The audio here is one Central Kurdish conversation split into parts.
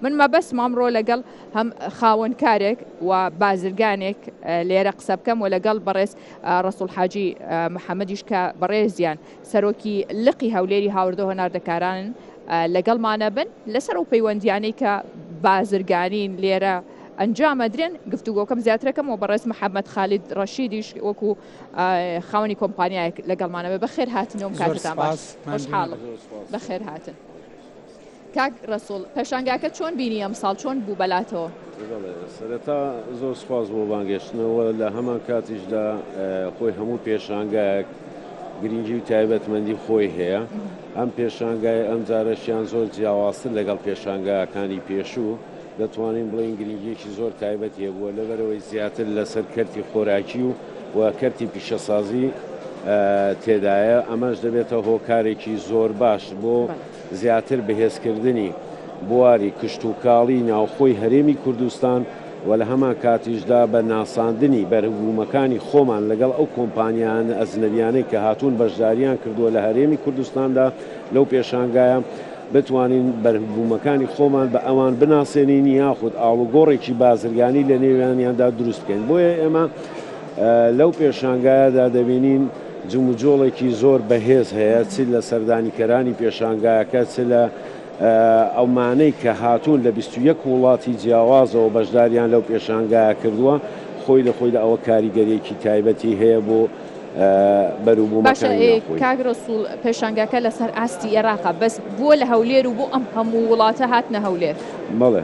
من مەبەستمە ئەمڕۆ لەگەڵ هەم خاوەنکارێک و بازرگانێک لێرە قسە بکەم و لەگەڵ بەڕێز ڕسوڵ حاجی محەممەدیش کە بەڕێزیان سەرۆکی لقی هەولێری هاوردە هۆناردەکارانن لەگەڵمانە بن لەسەر و پەیوەندیانەی کە بازرگانین لێرە ئەنجامەدرێن گفتوگۆکەم زیاترەکەم و بەڕێز محەممەد خالید ڕەشیدیش وەکو خاوەنی کۆمپانیایەک لەگەڵمانەوە بەخێر هاتنەوەم کاتتان باش بەخێر هاتن. کاک ڕەسوڵ پێشانگاکە چۆن بینی ئەمساڵ چۆن بوو بەلاتەوە؟ بەڵێ سەرەتا زۆر سوپاس بۆ بانگێشتنەوە لە هەمان کاتیشدا خۆی هەموو پێشانگایەک گرنگی و تایبەتمەندی خۆی هەیە ئەم پێشانگای ئەم جارەشیان زۆر جیاوازتر لەگەڵ پێشانگاکانی پێشوو دەتوانین بڵین گرنگیەکی زۆر تایبەت هەبووە لەبەرەوەی زیاتر لەسەر کەرتی خۆراکی و و کەرتی پیشەسازی تێدایە ئەمەش دەبێتە هۆکارێکی زۆر باش بۆ زیاتر بەهێزکردنی بواری کشتوکاڵی ناوخۆی هەرێمی کوردستان و لە هەمانکاتیشدا بە ناساندنی بەرهبوومەکانی خۆمان لەگەڵ ئەو کۆمپانیایان ئەجنەبیانەی کە هاتوون بەشداریان کردووە لە هەرێمی کوردستاندا لەو پێشانگایە بتوانین بەرهبوومەکانی خۆمان بە ئەوان بناسێنین یاخود ئاڵوگۆڕێکی بازرگانی لە نێویانیاندا دروست بکەین بۆیە ئێمە لەو پێشانگایەدا دەبینین جموجۆڵێکی زۆر بەهێز هەیە چ لە سەردانیکەرانی پێشانگایەکە چ لە ئەومانەی کە هاتوون لە بیست و یەک وڵاتی جیاوازەوە بەشداریان لەو پێشانگایە کردووە خۆی لە خۆیدا ئەوە کاریگەریەکی تایبەتی هەیە بۆ بەروبوومەکانی ناوخۆی. باشە کاک رەسوڵ پێشانگاکە لەسەر ئاستی ئێراقە بەس بۆ لە هەولێر و بۆ ئەم هەموو وڵاتە هاتنە هەولێر؟ بەڵێ.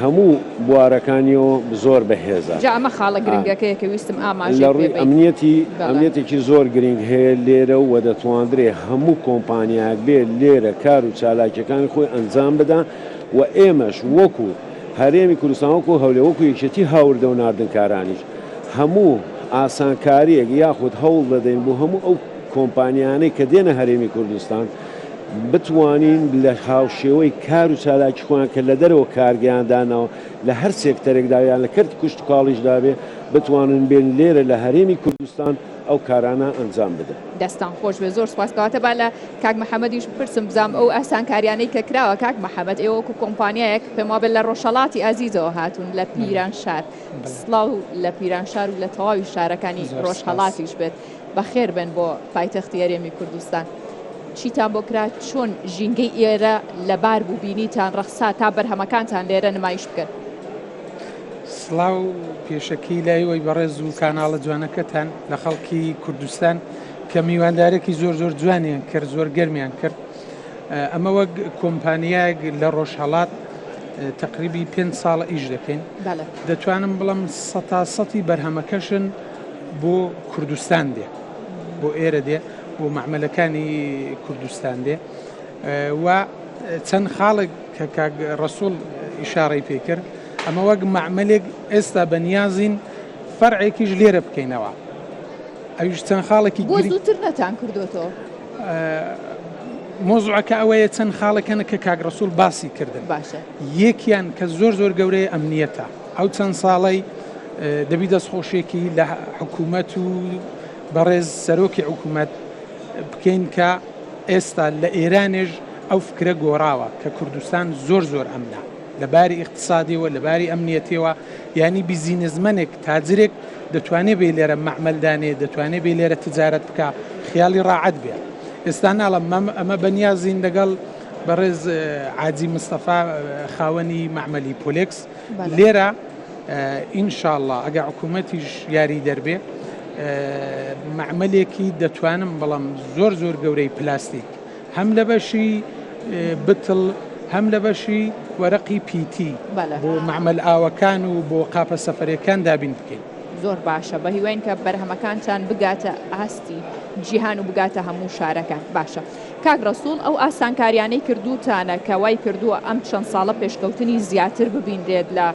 هەموو بوارەکانیەوە زۆر بەهێزە. جا ئەمە خاڵە گرنگەکەیە کە ویستم ئاماژەی پێ بەیت. لە ڕووی ئەمنیەتی، ئەمنیەتێکی زۆر گرنگ هەیە لێرە و دەتواندرێ هەموو کۆمپانیایەک بێ لێرە کار و چالاکیەکانی خۆی ئەنجام بدا و ئێمەش وەکو هەرێمی کوردستان وەکو هەولێر وەکو یەکێتی هاوردە و ناردنکارانیش هەموو ئاسانکاریەک یاخود هەوڵ دەدەین بۆ هەموو ئەو کۆمپانیانەی کە دێنە هەرێمی کوردستان بتوانین لە هاوشێوەی کار و چالاکی خۆیان کە لە دەرەوە کارگەیان داناوە لە هەر سێکتەرێکدا یان لە کەرتی کوشتوکاڵیشدا بێ بتوانن بێن لێرە لە هەرێمی کوردستان ئەو کارانە ئەنجام بدەن. دەستتان خۆش بێت زۆر سوپاس کەواتە با لە کاک محەمەدیش بپرسم بزام ئەو ئاسانکاریانەی کە کراوە کاک محەمەد ئێوە وەکو کۆمپانیایەک پێم وابێت لە ڕۆژهەڵاتی ئازیزەوە هاتوون لە پیرانشار سڵاو لە پیرانشار و لە تەواوی شارەکانی ڕۆژهەڵاتیش بێت بەخێر بێن بۆ پایتەختی هەرێمی کوردستان. چیتان بۆ کرا چۆن ژینگەی ئێرە لەبار بوو بینیتان ڕەخسا تا بەرهەمەکانتان لێرە نمایش بکەن. سڵاو پێشەکی لای وەی بەڕێز و کاناڵە جوانەکەتان لە خەڵکی کوردستان کە میواندارێکی زۆر زۆر جوانیان کرد زۆر گەرمیان کرد ئەمە وەک کۆمپانیایەک لە ڕۆژهڵات تقریبی پێ ساڵ ئیش دەکەین دەتوانم بڵم سە سەتی بەرهەمەکەشن بۆ کوردستان دێ بۆ ئێرە دێ بۆ مەعمەلەکانی کوردستان دێ و چەند خاڵێک کە کاک ڕسوول ئیشارەی پێکرد ئەمە وەک مەعملێک ئێستا بەنیازین فەرعێکیش لێرە بکەینەوە ئەویش چەند خاڵێکی زووتر نەتان کردوەوە مۆزعەکە ئەوەیە چەند خاڵەکەن کە کاگرسول باسی کردن باشە یەکیان کە زۆر زۆر گەورەیە ئەمنیەتە ئەو چەند ساڵەی دەبی دەستخۆشیەکی لە حکوومەت و بەڕێز سەرۆکی حکوومەت بکەین کە ئێستا لە ئێرانێژ ئەو فکرە گۆڕاوە کە کوردستان زۆر زۆر ئەمنە لەباری اقتصادیەوە لەباری ئەمنیەتەوە ینی بیزینزمەنێک تاجرێک دەتوانێت بێ لێرە مەعملدانێ دەتوانێت بێ لێرە تجارەت بکە خیاڵی ڕاعەت بێ ئێستا ناڵم مەم ئەمە بەنیازین لەگەڵ بەڕێز عاجی مستەفا خاوەنی مەعملی پۆلکس لێرە ان شاءاللە ئەگەر حکومەتیش یاریدەر بێ مەعمەلێکی دەتوانم بڵێم زۆر زۆر گەورەی پلاستیک هەم لە بەشی بتڵ هەم لە بەشی وەرەقی پیتی بۆ مەعمل ئاوەکان و بۆ قاپە سەفرەکان دابین بکەین زۆر باشە بە هیواین کە بەرهەمەکانتان بگاتە ئاستی جیهان و بگاتە هەموو شارەکان باشە. کاک ڕەسوڵ ئەو ئاسانکاریانەی کردووتانە کە وای کردووە ئەم چەند ساڵە پێشکەوتنی زیاتر ببینرێت لە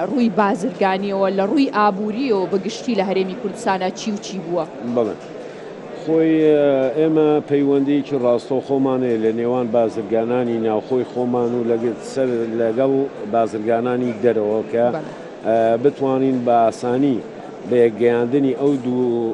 ڕووی بازرگانیەوە لە ڕووی ئابووریەوە بە گشتی لە هەرێمی کوردستانا چی و چی بووە؟ بەڵێ خۆی ئێمە پەیوەندیەکی ڕاستەوخۆمان هەیە لە نێوان بازرگانانی ناوخۆی خۆمان و لەگەڵ بازرگانانی دەرەوە کە بتوانین بە ئاسانی بە یەکگەیاندنی ئەو دوو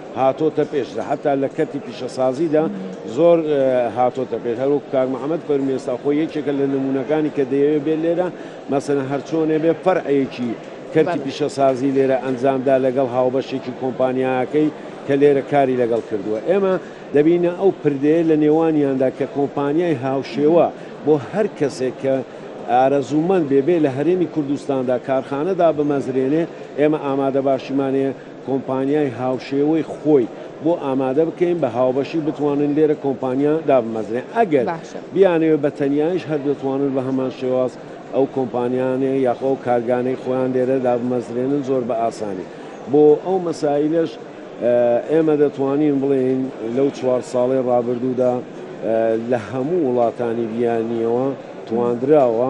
هاتۆتە پێش لە حەتا لە کەرتی پیشەسازیدا زۆر هاتۆتە پێش هەروەکو کاک محمد فەرمی ئێستا خۆی یەکێکە لە نمونەکانی کە دەیەوێ بێ لێرە مەسەلەن هەرچۆنێ بێ فەرعێکی کەرتی پیشەسازی لێرە ئەنجامدا لەگەڵ هاوبەشێکی کۆمپانیاکەی کە لێرە کاری لەگەڵ کردووە ئێمە دەبینە ئەو پردەیە لە نێوانیاندا کە کۆمپانیای هاوشێوە بۆ هەر کەسێک کە ئارەزوومەند بێ بێ لە هەرێمی کوردستاندا کارخانە دابمەزرێنێ ئێمە ئامادەباشیمانەیە کۆمپانیای هاوشێوەی خۆی بۆ ئامادە بکەین بە هاوبەشی بتوانن لێرە کۆمپانیا دابمەزرێن ئەگەر باشە. بیانەوێت بە تەنیایش هەر دەتوانن بە هەمان شێواز ئەو کۆمپانیانەی یاخۆ ئەو کارگانەی خۆیان لێرە دابمەزرێنن زۆر بە ئاسانی بۆ ئەو مەسایلەش ئێمە دەتوانین بڵێین لەو چوار ساڵەی ڕابردوودا لە هەموو وڵاتانی بیانیەوە تواندراوە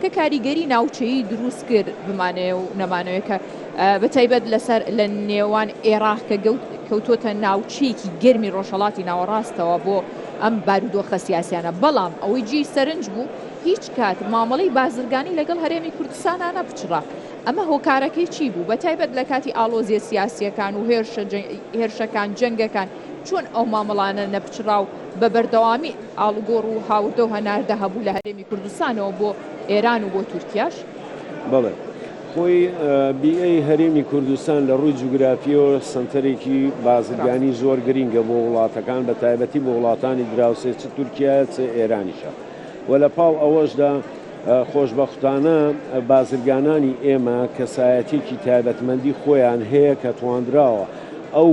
کە کاریگەری ناوچەیی دروست کرد بمانەوێ و نەمانەوێ کە بە تایبەت لەسەر لە نێوان ئێراق کە گەوت کەوتۆتە ناوچەیەکی گەرمی ڕۆژهەڵاتی ناوەڕاستەوە بۆ ئەم بارودۆخە سیاسیانە بەڵام ئەوەی جێی سەرنج بوو هیچ کات مامەڵەی بازرگانی لەگەڵ هەرێمی کوردستانە نەپچڕا ئەمە هۆکارەکەی چی بوو بە تایبەت لە کاتی ئاڵۆزیە سیاسیەکان و هێرشەکان جەنگەکان چۆن ئەو مامەڵانە نەپچڕاو بە بەردەوامی ئاڵوگۆڕ و هاوردە و هەناردە هەبوو لە هەرێمی کوردستانەوە بۆ ئێران و بۆ تورکیاش. بەڵێ. خۆی بیئەی هەرێمی کوردستان لە ڕووی جوگرافییەوە سەنتەرێکی بازرگانی زۆر گرینگە بۆ وڵاتەکان بە تایبەتی بۆ وڵاتانی دراوسێ چ تورکیایە چ ئێرانیشە و لە پاڵ ئەوەشدا خۆشبەختانە بازرگانانی ئێمە کەسایەتیەکی تایبەتمەندی خۆیان هەیە کە تواندراوە ئەو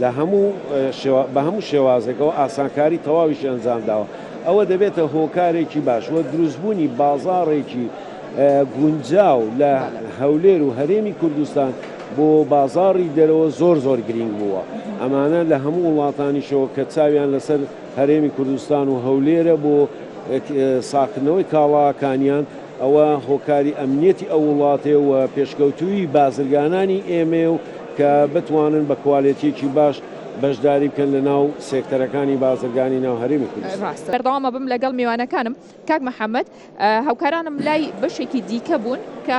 لە هەموو شێوا بە هەموو شێوازێکەوە ئاسانکاری تەواویشی ئەنجام داوە، ئەوە دەبێتە هۆکارێکی باش و دروستبوونی بازاڕێکی گونجاو لە هەولێر و هەرێمی کوردستان بۆ بازاڕی دەرەوە زۆر زۆر گرینگ بووە، ئەمانە لە هەموو وڵاتانیشەوە کە چاویان لەسەر هەرێمی کوردستان و هەولێرە بۆ ساغکردنەوەی کاڵاکانیان، ئەوە هۆکاری ئەمنیەتی ئەو وڵاتەیە و پێشکەوتوویی بازرگانانی ئێمەیە و کە بتوانن بە کوالێتیەکی باش بەشداری بکەن لە ناو سێکتەرەکانی بازرگانی ناو هەرێمی کوردستان. بەردەوام ئەبم لەگەڵ میوانەکانم. کاک محەمەد، هاوکارانم لای بەشێکی دیکە بوون کە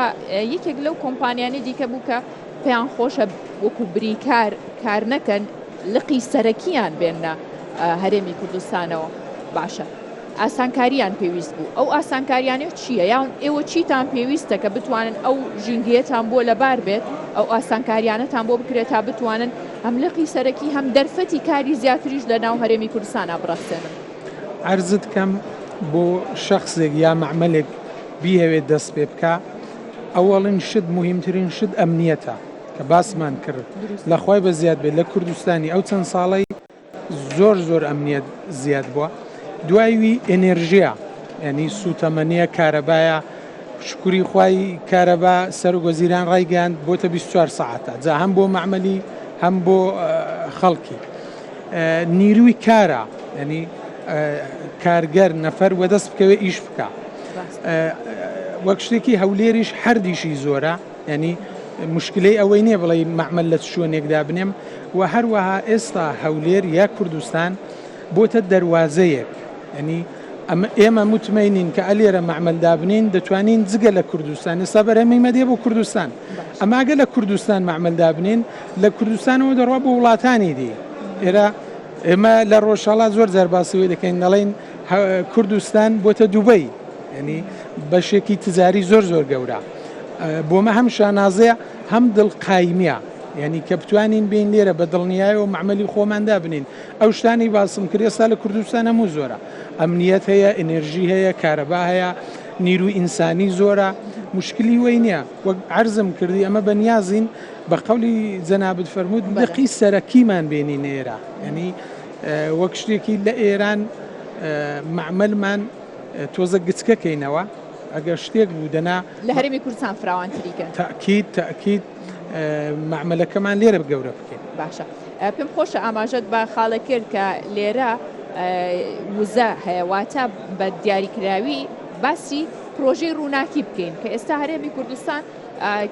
یەکێک لەو کۆمپانیانەی دیکە بوو کە پێیان خۆشە وەکو بریکار کار نەکەن، لقی سەرەکییان بێننە هەرێمی کوردستانەوە. باشە. ئاسانکارییان پێویست بوو، ئەو ئاسانکارییانە چییە؟ یان ئێوە چیتان پێویستە کە بتوانن ئەو ژینگەیەتان بۆ لەبار بێت، ئەو ئاسانکارییانەتان بۆ بکرێت تا بتوانن هەم لقی سەرەکی هەم دەرفەتی کاری زیاتریش لە ناو هەرێمی کوردستانا بڕەخسێنن؟ عەرزت کەم بۆ شەخسێک یا مەعمەلێک بیهەوێت دەست پێ بکا، ئەوەڵین شت موهیمترین شت ئەمنییەتە کە باسمان کرد، لە خوای بەزیاد بێت لە کوردستانی ئەو چەند ساڵەی زۆر زۆر ئەمنیەت زیاد بوە دوای وی ئێنێرژیا ینی سوتەمەنیە کارەبایە شکوری خوای کارەبا سەر وەزیران ڕایگەیاند بۆتە 24 سعاتە جا هەم بۆ مەعملی هەم بۆ خەڵکی نیروی کارە ینی کارگەر نەفەر وەدەست بکەوێ ئیش بکە وەک شتێکی هەولێریش هەردیشی زۆرە یانی مشکلەی ئەوەی نیە بڵێی مەعمەل لە چ شوێنێک دابنێم و هەروەها ئێستا هەولێر یا کوردستان بۆتە دەروازەیەک ئەنی ئەمە ئێمە متمەینین کە ئەلێرە مەعمەل دابنین دەتوانین جگە لە کوردستان ئێستا بەرەمی مەدێ بۆ کوردستان ئەماگە لە کوردستان مەعمەل دابنین لە کوردستانەوە دەڕوا بۆ وڵاتانی دی ئێرە ئێمە لە ڕۆژهڵات زۆر جار باسیەوەی دەکەین دەڵین کوردستان بۆتە دوبەی ینی بەشێکی تجاری زۆر زۆر گەورە بۆمە هەم شانازە هەم دڵ قایمیە یعنی کە بتوانین بین لێرە بە دڵنیایەوە معمەلی خۆمان دابنین ئەو شتانی باسم کرد ئێستا لە کوردستان هەموو زۆرە ئەمنیەت هەیە ئەنێرژی هەیە کارەبا هەیە نیرو ئینسانی زۆرە مشکلی وی نییە وەک عرضم کردی ئەمە بە نیازین بە قولی جەنابت فەرمووت دقی سەرەکیمان بینی نێرە ینی وەک شتێکی لە ئێران معملمان تۆزە گچکەکەینەوە ئەگەر شتێک بوو دەنا لە هەرێمی کوردستان فراوانتری کەن. تەئکید تەئکید مەعمەلەکەمان لێرە گەورە بکەین. باشە پێم خۆشە ئاماژەت بە خاڵە کرد کە لێرە وزە هەیە واتە بە دیاریکراوی باسی پرۆژەی ڕووناکی بکەین کە ئێستا هەرێمی کوردستان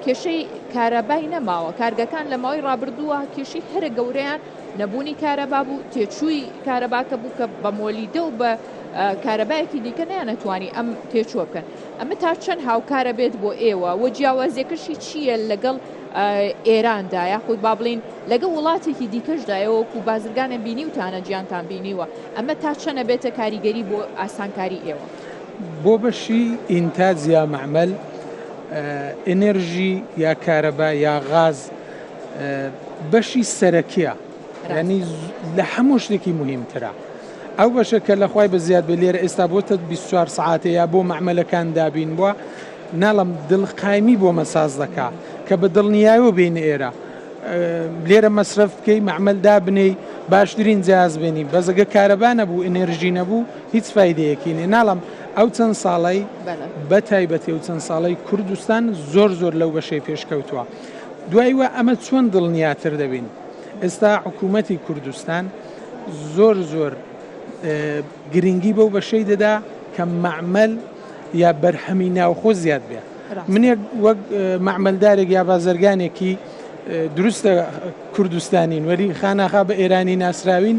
کێشەی کارەبای نەماوە کارگەکان لە ماوەی ڕابردووە کێشی هەرە گەورەیان نەبوونی کارەبا بوو تێچووی کارەباکە بوو کە بە مۆلیدە و بە کارەبایەکی دیکە نەیانەتوانی ئەم تێچووە بکەن ئەمە تا چەند هاوکارە بێت بۆ ئێوە و جیاوازیەکەشی چییە لەگەڵ ئێراندا یاخود با بڵین لەگە وڵاتێکی دیکەشدایەوەکو بازرگانە بینیوتانە جیانتان بینیوە ئەمە تا چەنە بێتە کاریگەری بۆ ئاسانکاری ئێوە بۆ بەشی ئینتاج یا معمل ئەنرژی یا کارەبا یا غاز بەشی سەرەکیە یانی لە هەموو شتێکی موهیم ترە ئەو بەشە کە لە خوای بە زیاد بێ لێرە ئێستا بۆ تە بیست چوار سەعاتێ یا بۆ مەعمەلەکان دابین بووە ناڵم دڵقایمی بۆ مەساز دەکا کە بە دڵنیایەوە بین ئێرە لێرە مەسرف بکەی مەعمل دابنێی باشترین جیاز بێنی بەزەگە کارەبا نەبوو ئەنێرژی نەبوو هیچ فیدەیەکی نێ ناڵم ئەو چەند ساڵی بە تایبەتی و چەند ساڵی کوردستان زۆر زۆر لەو بەشەی پێشکەوتووە دوای وە ئەمە چۆن دڵنیاتر دەبین. ئێستا حکوومەتی کوردستان زۆر زۆر گرنگی بەو بەشەی دەدا کە مەعمل یا بەرهەمی ناوخۆ زیاد بێ منێک وەک مەعملدارێک یا بازرگانێکی دروستە کوردستانین وەری خاناخا بە ئێرانی ناسراوین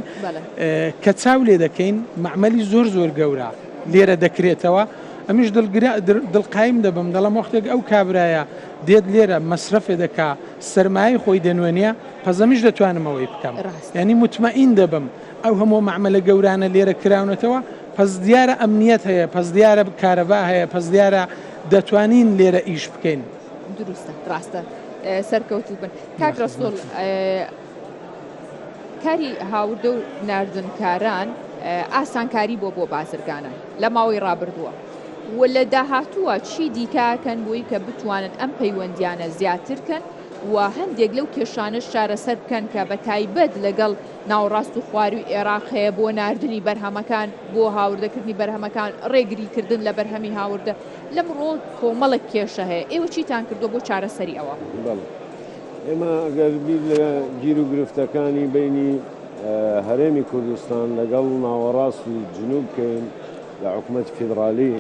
کە چاو لێ دەکەین مەعملی زۆر زۆر گەورە لێرە دەکرێتەوە ئەمیش دڵگرا دڵقایم دەبم دەڵم وەختێک ئەو کابرایە دێت لێرە مەسرەفێ دەکا سەرمایەی خۆی دەنوێنێ پەزەمیش دەتوانم ئەوەی بکەم یانی متمەئین دەبم ئەو هەموو مەعمەلە گەورانە لێرە کراونەتەوە پەس دیارە ئەمنیەت هەیە پەس دیارە کارەبا هەیە پەس دیارە دەتوانین لێرە ئیش بکەین دروستە ڕاستە سەرکەوتو بن کاک ڕسول کاری هاوردە و نردنکاران ئاسانکاری بۆ بۆ بازرگانە لە ماوەی ڕابردووە و لە داهاتووە چی دیکە کەن بۆی کە بتوانن ئەم پەیوەندیانە زیاتر کەن و هەندێک لەو کێشانەش چارەسەر بکەن کە بە تایبەت لەگەڵ ناوەڕاست و خواروی ئێراق هەیە بۆ ناردنی بەرهەمەکان بۆ هاوردەکردنی بەرهەمەکان ڕێگری کردن لە بەرهەمی هاوردە لەم ڕۆ کۆمەڵک کێشە هەیە ئێوە چیتان کردو بۆ چارەسەری ئەوە ئێمە گەر بیر لە گیر و گرفتەکانی بینی هەرێمی کوردستان لەگەڵ ناوەڕاست و جنوب بکەین لە حکومەتی فیدڕالی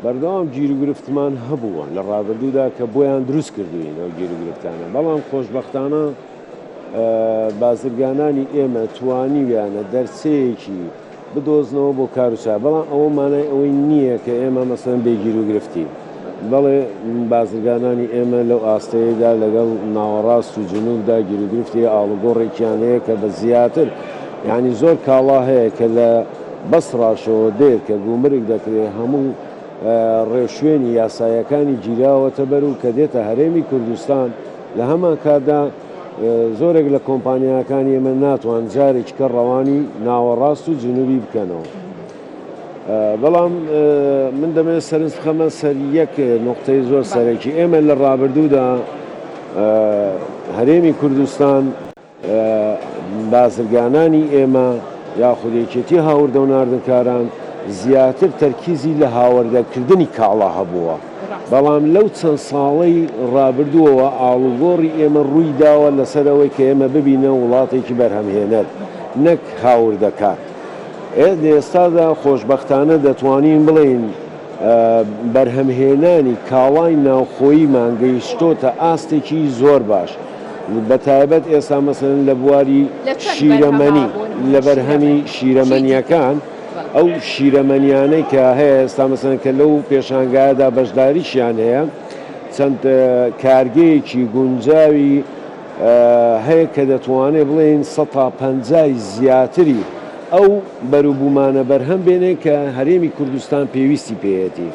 بەردەوام گیروگرفتمان هەبووە لە ڕابردوودا کە بۆیان دروست کردووین ئەو گیروگرفتانە، بەڵام خۆشبەختانە بازرگانانی ئێمە توانیویانە دەرچەیەکی بدۆزنەوە بۆ کار و چا، بەڵام ئەوە مانای ئەوەی نییە کە ئێمە مەسەڵەن بێ گیروگرفتین. بەڵێ بازرگانانی ئێمە لەو ئاستەیەدا لەگەڵ ناوەڕاست و جنوبدا گیروگرفتی هەیە، ئاڵوگۆڕێکیان هەیە کە بە زیاتر یانی زۆر کاڵا هەیە کە لە بەسڕاشەوە دێت کە گومرگ دەکرێت هەموو ڕێوشوێنی یاسایەکانی گیراوەتە بەر و کە دێتە هەرێمی کوردستان لە هەمان کاتدا زۆرێک لە کۆمپانیاکانی ئێمە ناتوان جارێکیکە ڕەوانی ناوەڕاست و جنوبی بکەنەوە. بەڵام من دەمەوێت سەرنج بخەمە سەر یەک نقطەی زۆر سەرەکی. ئێمە لە ڕابردوودا هەرێمی کوردستان، بازرگانانی ئێمە یاخود یەکێتی هاوردە و ناردنکاران زیاتر تەرکیزی لە هاوردەکردنی کاڵا هەبووە، بەڵام لەو چەند ساڵەی ڕابردووەوە ئاڵوگۆڕی ئێمە ڕووی داوە لەسەر ئەوەی کە ئێمە ببینە وڵاتێکی بەرهەمهێنەر نەک هاوردەکار. لە ئێستادا خۆشبەختانە دەتوانین بڵێین بەرهەمهێنانی کاڵای ناوخۆیی مان گەیشتۆتە ئاستێکی زۆر باش بە تایبەت ئێستا مەسەلەن لە بواری شیرەمەنی لە بەرهەمی شیرەمەنیەکان ئەو شیرەمەنیانەی کە هەیە ئێستا مەسەلەن کە لەو پێشانگایەدا بەشداریشیان هەیە چەند کارگەیەکی گونجاوی هەیە کە دەتوانێت بڵێین سەد تا پەنجای زیاتری ئەو بەروبوومانە بەرهەم بێنێت کە هەرێمی کوردستان پێویستی پێیەتی.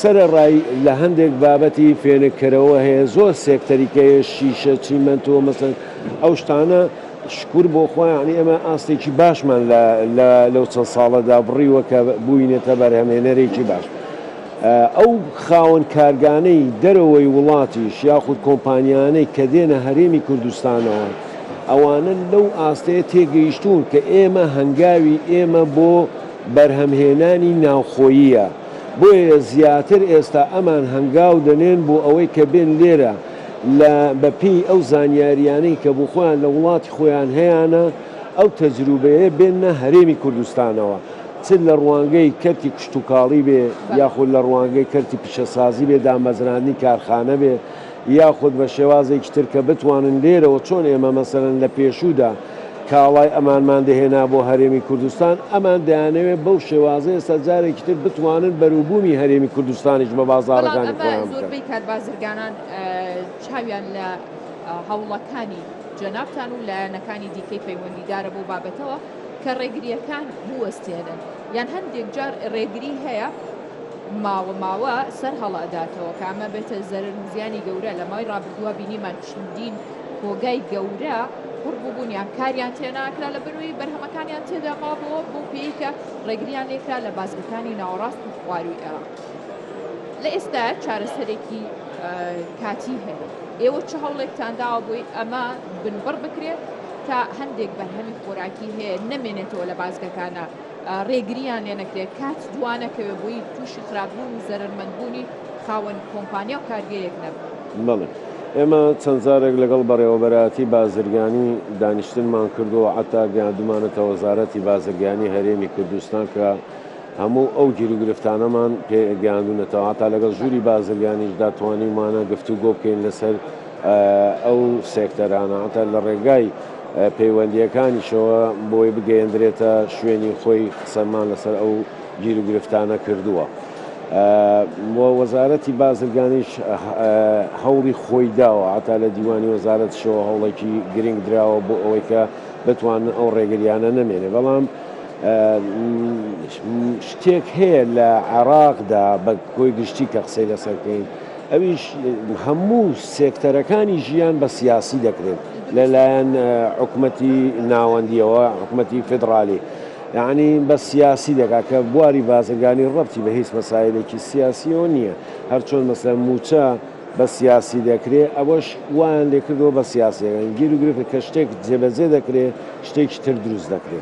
سەرەڕای لە هەندێک بابەتی فێنککەرەوە هەیە زۆر سێکتەری کە هەیە شیشە، چیمەنتۆ مەسەن ئەو شتانە شکور بۆ خوا یانی ئێمە ئاستێکی باشمان لە لەو چەند ساڵەدا بڕیوە کە بووینەتە بەرهەمێنەرێکی باش. ئەو خاوەن کارگانەی دەرەوەی وڵاتیش یاخود کۆمپانیانەی کە دێنە هەرێمی کوردستانەوە ئەوانە لەو ئاستەیە تێگەیشتوون کە ئێمە هەنگاوی ئێمە بۆ بەرهەمهێنانی ناوخۆییە بۆیە زیاتر ئێستا ئەمان هەنگاو دەنێن بۆ ئەوەی کە بێن لێرە لە بە پێی ئەو زانیاریانەی کە بۆ خۆیان لە وڵاتی خۆیان هەیانە ئەو تەجروبەیە بێننە هەرێمی کوردستانەوە. چ لە ڕوانگەی کەرتی کشتوکاڵی بێ یاخود لە ڕوانگەی کەرتی پیشەسازی بێ، دامەزراندنی کارخانە بێ یاخود بە شێوازێکی تر کە بتوانن لێرەوە چۆن ئێمە مەسەلەن لە پێشوودا کاڵای ئەمانمان دەهێنا بۆ هەرێمی کوردستان، ئەمان دەیانەوێ بەو شێوازە ئێستا جارێکی تر بتوانن بەروبوومی هەرێمی کوردستانیش بە بازاڕەکانی خۆیان بکەن. بەڵام ئەمە زۆربەی کات بازرگانان چاویان لە هەوڵەکانی جەنابتان و لایەنەکانی دیکەی پەیوەندیدارە بەو بابەتەوە. کە ڕێگرییەکان بوەستێنن یان هەندێک جار ڕێگری هەیە ماوە ماوە سەر هەڵئەداتەوە کە ئەمە بێتە زەرەر و زیانی گەورە لە ماوەی ڕابردووە بینیمان چەندین کۆگای گەورە قڕ بووبوون یان کاریان تێناکرا لە بەروی بەرهەمەکانیان تێدا مابەوە بۆ پێیکە ڕێگریان لێکرا لە بازگەکانی ناوەڕاست و خواروی ئێراق. لە ئێستا چارەسەرێکی کاتی هەیە ئێوە چ هەوڵێکتان داوە بۆی ئەمە بنبڕ بکرێت تا هەندێک بەرهەمی خۆراکی هەیە نەمێنێتەوە لە بازگەکانە ڕێگریان لێ نەکرێت کات دوانەکەوێت بۆی تووشی خراپبوون و زەرمەندبوونی خاوەن کۆمپانیا و کارگەیەک نەبوو بەڵێ ئێمە چەند جارێک لەگەڵ بەڕێوەبەرایەتی بازرگانی دانیشتنمان کردووە عتا گەیاندمانەتە وەزارەتی بازرگانی هەرێمی کوردستان کە هەموو ئەو گیروگرفتانەمان پێ گەیاندونەتەوە، هەتا لەگەڵ ژووری بازرگانیشدا توانیومانە گفتوگۆ بکەین لەسەر ئەو سێکتەرانە، هەتا لە ڕێگای پەیوەندییەکانیشەوە بۆی بگەیەندرێتە شوێنی خۆی قسەمان لەسەر ئەو گیروگرفتانە کردووە و وەزارەتی بازرگانیش هەوڵی خۆی داوە، هەتا لە دیوانی وەزارەتیشەوە هەوڵێکی گرنگ دراوە بۆ ئەوەی کە بتوانن ئەو ڕێگریانە نەمێنێ، بەڵام. شتێک هەیە لە عێراقدا بە کۆی گشتی کە قسەی لەسەر بکەین ئەویش هەموو سێکتەرەکانی ژیان بە سیاسی دەکرێت لەلایەن حکومەتی ناوەندیەوە حکومەتی فدرالی یعنی بە سیاسی دەکات کە بواری بازرگانی ڕەتی بە هیچ مەسایلێکی سیاسیەوە نییە هەرچۆن مەسەر موچە بە سیاسی دەکرێ ئەوەش وایان لێکردووە بە سیاسیەکان گیر و گرفتە کە شتێک جێبەجێ دەکرێ شتێکی تر دروست دەکرێ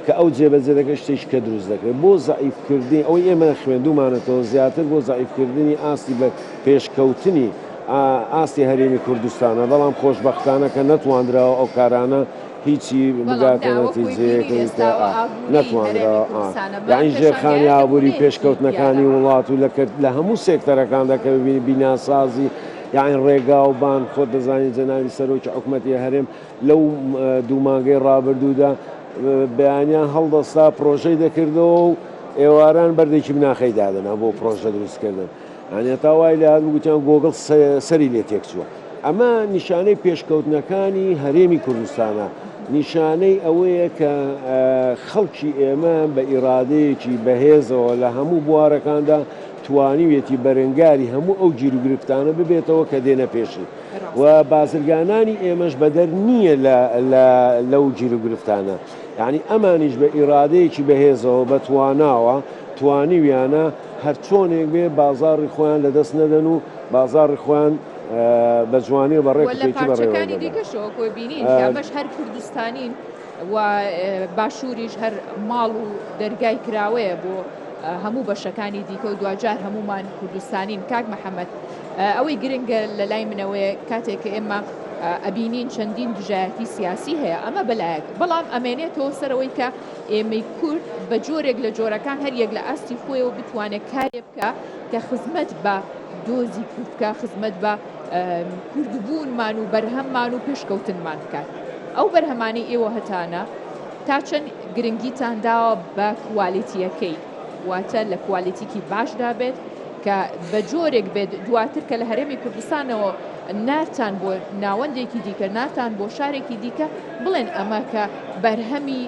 کە ئەو جێبەجێ دەکرێ شتێکی کە دروست دەکرێ بۆ زەعیف کردنی ئەوەی ئێمە خوێندومانەتەوە زیاتر بۆ زەعیف کردنی ئاستی بە پێش کەوتنی ئاستی هەرێمی کوردستانە بەڵام خۆشبەختانە کە نەتواندراوە ئەو کارانە هیچی بەڵام داوە خۆی بینی لێستا و ئابووری هەرێمی کوردستانە بە پێشانگایەکە بوونی پیاوە. یانی هەتا وای لێ هات گوتیان گۆگڵ سەری لێ تێکچووە. ئەمە نیشانەی پێشکەوتنەکانی هەرێمی کوردستانە، نیشانەی ئەوەیە کە خەڵکی ئێمە بە ئیرادەیەکی بەهێزەوە لە هەموو بوارەکاندا توانیوێتی بەرەنگاری هەموو ئەو گیروگرفتانە ببێتەوە کە دێنە پێشی و بازرگانانی ئێمەش بەدەر نییە لەو گیروگرفتانە یعنی ئەمانیش بە ئیرادەیەکی بەهێزەوە بەتواناوە توانیویانە هەرچۆنێک بێ بازاڕی خۆیان لەدەست نەدەن و بازاڕی خۆیان بە جوانی و بە ڕێک و پێکی بەڕێوە بەرن. وە لە پارچەکانی دیکەشەوە کۆی بینین کە ئەمەش هەر کوردستانین و باشووریش هەر ماڵ و دەرگای کراوەیە بۆ هەموو بەشەکانی دیکە و دواجار هەموومان کوردستانین. کاک محەمەد ئەوەی گرنگە لە لای منەوەیە کاتێک کە ئێمە ئەبینین چەندین دژایەتی سیاسی هەیە ئەمە بە لایەک بەڵام ئەمێنێتەوە سەر ئەوەی کە ئێمەی کورد بە جۆرێک لە جۆرەکان هەر یەک لە ئاستی خۆیەوە بتوانێت کارێ بکا کە خزمەت بە دۆزی کورد بکا، خزمەت بە کوردبوونمان و بەرهەممان و پێشکەوتنمان بکات. ئەو بەرهەمانەی ئێوە هەتانە تا چەند گرنگیتان داوە بە کوالێتییەکەی، واتە لە کوالێتیکی باشدا بێت کە بە جۆرێک بێت دواتر کە لە هەرێمی کوردستانەوە نارتان بۆ ناوەندێکی دیکە، نارتان بۆ شارێکی دیکە، بڵێن ئەمە کە بەرهەمی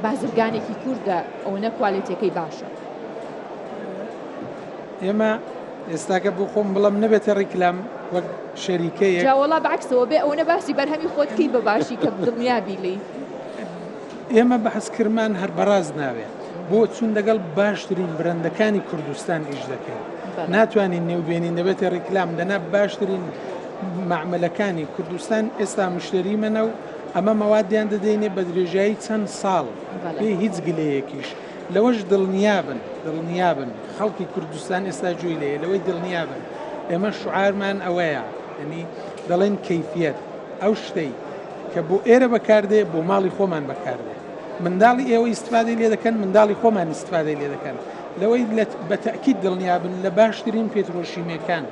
بازرگانێکی کوردە ئەوەنە کوالێتەکەی باشە. ئێمە ئێستاکە بۆ خۆم بڵم نەبێتە ڕیکلام وەک شەریکەیە جاوەڵا بەعکسەوە بێ ئەوەنە باسی بەرهەمی خۆتکی بە باشی کە دڵنیابی لی ئێمە بەحسکرمان هەر بەڕاز ناوێت بۆ چون لەگەڵ باشترین برندەکانی کوردستان ئیش دەکەین ناتوانین نێوبێنین دەبێتە ڕیکلام دەنا باشترین مەعمەلەکانی کوردستان ئێستا مشتەریمەنە و ئەمە مەوادیان دەدەینێ بە درێژایی چەند ساڵ بێ هیچ گلەیەکیش. لەوەش دڵنیابن دڵنیابن خەڵکی کوردستان ئێستا گوێی لێیە لەوەی دڵنیابن ئێمە شعارمان ئەوەیە یعنی دەڵێن کەیفیەت ئەو شتەی کە بۆ ئێرە بەکاردێ بۆ ماڵی خۆمان بەکاردێ منداڵی ئێوە ئیسفادەی لێ دەکەن منداڵی خۆمان ئیسفادەی لێ دەکەن لەوەی بە تەکیید دڵنیابن لە باشترین پێترۆشیمەکان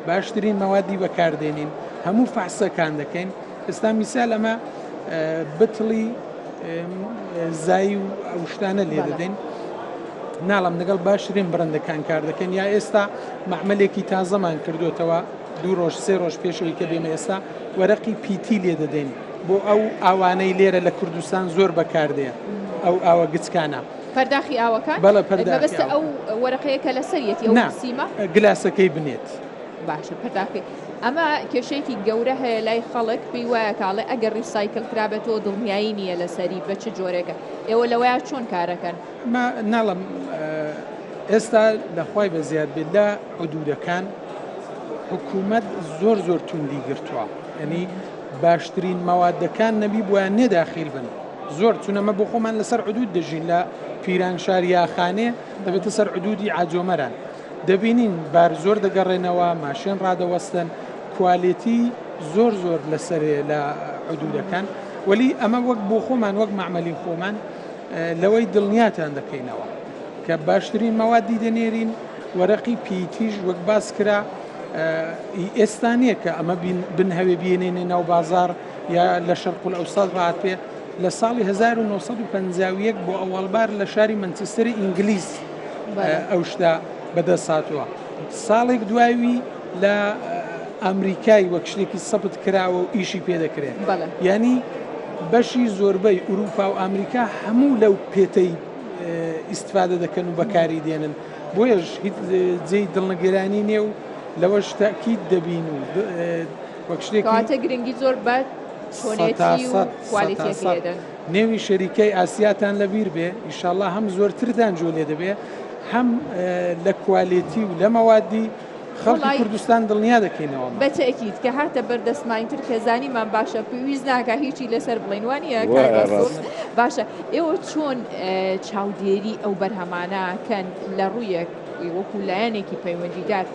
باشترین مەوادی بەکاردێنین هەموو فەحسەکان دەکەین ئستا میسال ئەمە بتڵی زای و ئەوشتانە لێ دەدەین ناڵم لەگەڵ باشترین بڕندەکان کار دەکەن یا ئێستا معملێکی تازەمان کردوێتەوە دوو ڕۆژ سێ ڕۆژ پێشەوەی کە بێمە ئێستا وەرەقی پیتی لێ دەدەین بۆ ئەو ئاوانەی لێرە لە کوردستان زۆر بەکاردێن ئەو ئاوە گچکانە پەرداخی ئاوەکان؟ بەڵێ پەرداخی ئاوەکان. مەبەستە ئەو وەرەقەیە کە لەسەریەتی ئەو سیمە؟ نا گلاسەکەی بنێت. باشە پەرداخی. ئەمە کێشەیەکی گەورە هەیە لای خەڵک پێی وایە کاڵێ ئەگەر ڕیسایکل کرابێتەوە دڵنیایی نییە لەسەری بە چ جۆرێکە ئێوە لەوەیە چۆن کارەکەن؟ ما ناڵم ئێستا لەخوای بە زیاد بێت لە حدودەکان حکوومەت زۆر زۆر توندی گرتووە ینی باشترین مەوادەکان نەبی بۆیان نێداخیل بن زۆر چون ئەمە بۆ خۆمان لە سەر عدود دەژین لە پیرانشار یا خانێ دەبێتە سەر عدودی عاجۆمەران دەبینین بار زۆر دەگەڕێنەوە ماشێن ڕادەوەستن کوالێتی زۆر زۆر لە سەرێ لە عدودەکان ولی ئەمە وەک بۆ خۆمان وەک معمەلی خۆمان لەوەی دڵنیاتان دەکەینەوە کە باشترین مەوادی دەنێرین وەرەقی پیتیش وەک باس کرا ئێستا نییە کە ئەمە بنهوێ بینێنێ ناو بازار یا لە شەرقولئەوسەت هاتبێ لە ساڵی 1951 بۆ ئەوەڵبار لە شاری مەنچستری ئینگلیس ئەو شتە بەدەست هاتووە ساڵێک دوایوی لە ئەمریکای وەک شتێکی سەبت کراوە و ئیشی پێ دەکرێت ینی بەشی زۆربەی ئوروپا و ئەمریکا هەموو لەو پێتەی ئیسفادە دەکەن و بەکاری دێنن بۆیش هیچ جێی دڵنگرانی نێ و لەوەش تاکیت دەبین و کەواتە گرنگی زۆر بە چۆنێتی و کوالیتیەکەی دەدەن. نێوی شەریکەی ئاسیاتان لەبیر بێ ئیشاءاللە هەم زۆرتر دانجۆ لێ دەبێ هەم لە کوالێتی و لە مەوادی خەڵکی کوردستان دڵنیا دەکەینەوە بەتەکیت کە هاتە بەردەستمانی تر کەزانیمان باشە پێویست ناکە هیچی لەسەر بڵێنوانە باشە ئێوە چۆن چاودێری ئەو بەرهەمانەکەن لە ڕوویەک وەکو لایەنێکی پەیوەندیدار